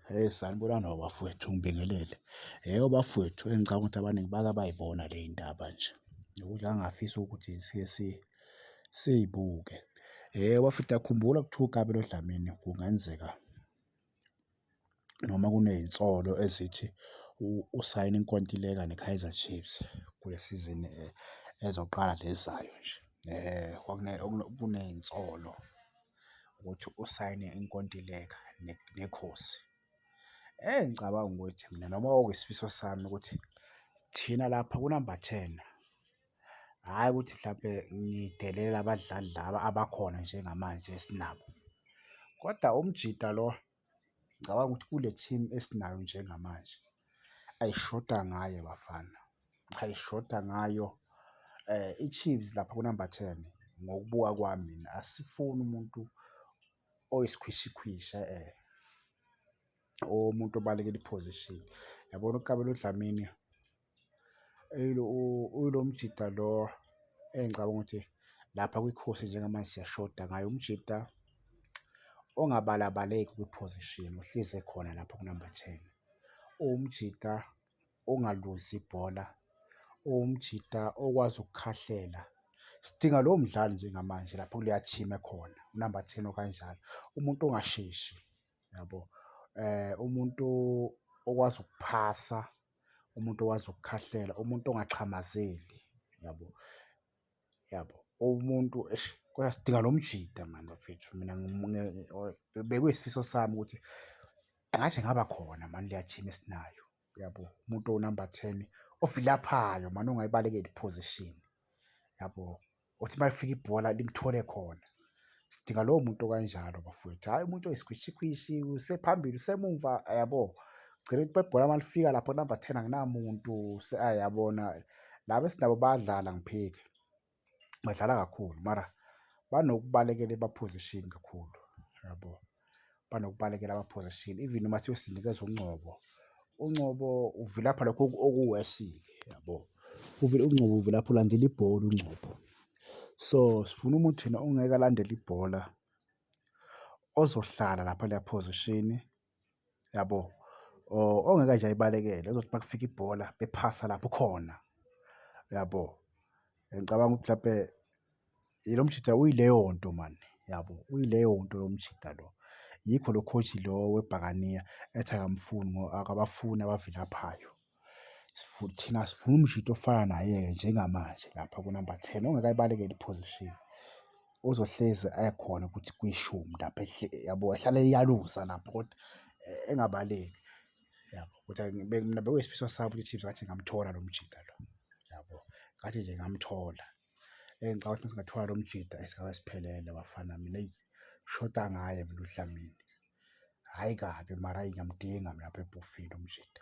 Hey sanibonani o bafwethu ngibingelele. Yebo bafwethu engicabanga ukuthi abaningi bake bayibona le ndaba nje nokuthi angafisa ukuthi sike siyibuke. Yebo bafwethu ngiyakhumbula kuthiwa uKabelo Dlamini kungenzeka noma kunezinsolo ezithi usayine inkontileka neKaizer Chiefs kule sizini ezoqala le ezayo nje. Kunezinsolo ukuthi usayine inkontileka neKhosi. Eyi ngicabanga ukuthi mina noma kwakuyisifiso sami ukuthi thina lapha kunamba ten, hhayi ukuthi mhlampe ngidelele abadlali laba abakhona njengamanje esinabo, koda umjita lo. Ngicabanga ukuthi kule team esinayo njengamanje ayishoda ngaye bafana, cha ishoda ngayo i-Chiefs lapha kunamba ten ngokubuka kwami mina asifuni umuntu oyisikhwishikhwishi e-e, umuntu obalekela i-position. Yabona uKabelo Dlamini? Uyilo mjita lo engicabanga ukuthi lapha kwiKhosi njengamanje siyashoda ngaye, umjita ongabalabaleki kwiphozishini, uhlezi ekhona lapho kunamba ten. Uwumjita ongaluzi ibhola, uwumjita okwazi ukukhahlela. Sidinga lowo mdlali njengamanje lapho kuleya thimu ekhona, unamba ten okanjalo, umuntu ongasheshi yabo, umuntu okwazi ukuphasa. umuntu owazi ukukhahlela, umuntu ongaxhamazeli, yabo, yabo. Umuntu eish kodwa sidinga lo mjita mani bafethu, mina bekuyisifiso sami ukuthi ngathi ngaba khona mani leya team esinayo, yabo. Umuntu owunamba ten ovilaphayo mani ongayibalekeli i-position, yabo. othi uma efika ibhola limthole khona sidinga lowo muntu okanjalo bafowethu hhayi umuntu oyisikhwishikhwishi usephambili usemumva yabo gcina ukuthi bebhola uma lifika lapho number ten anginamuntu ayabona laba esinabo badlala ngiphike badlala kakhulu mara banokubalekela ebaphozishini kakhulu yabo yeah, banokubalekela ama-position even uma thiwe sinikeza uNgcobo uNgcobo uvilapha lokho okuwesi-ke yabo uNgcobo uvilapha ulandela ibhola uNgcobo so sifuna umuntu thina ongeke alandele ibhola ozohlala lapha leya position yabo ongeke nje ayibalekele uzothi uma kufika ibhola bephasa lapho khona yabo ngicabanga ukuthi mhlawumpe lo mjita uyileyo nto mani yabo uyileyo nto lo mjita lo yikho lo coach lo webhakaniya ethi akamfuni akabafuni abavilaphayo Thina asifuni umshito ofana naye-ke njengamanje lapha kunamba ten, ongeke ayibalekele i-position. Uzohlezi ekhona ukuthi kwishumi lapha yabo, ehlale eyaluza lapho kodwa engabaleki, yabo. Kodwa mina bekuyisifiso sami ukuthi i-Chiefs ngathi ingamthola lo mjita lo, yabo. Ngathi nje ingamthola. Eyi, ngicabanga ukuthi uma singathola lo mjita eyi, ngabe siphelele bafana mina, eyi, shoda ngaye mina uDlamini. Hhayi kabi mara ayi ngiyamdinga mina phepha ukufika umjita.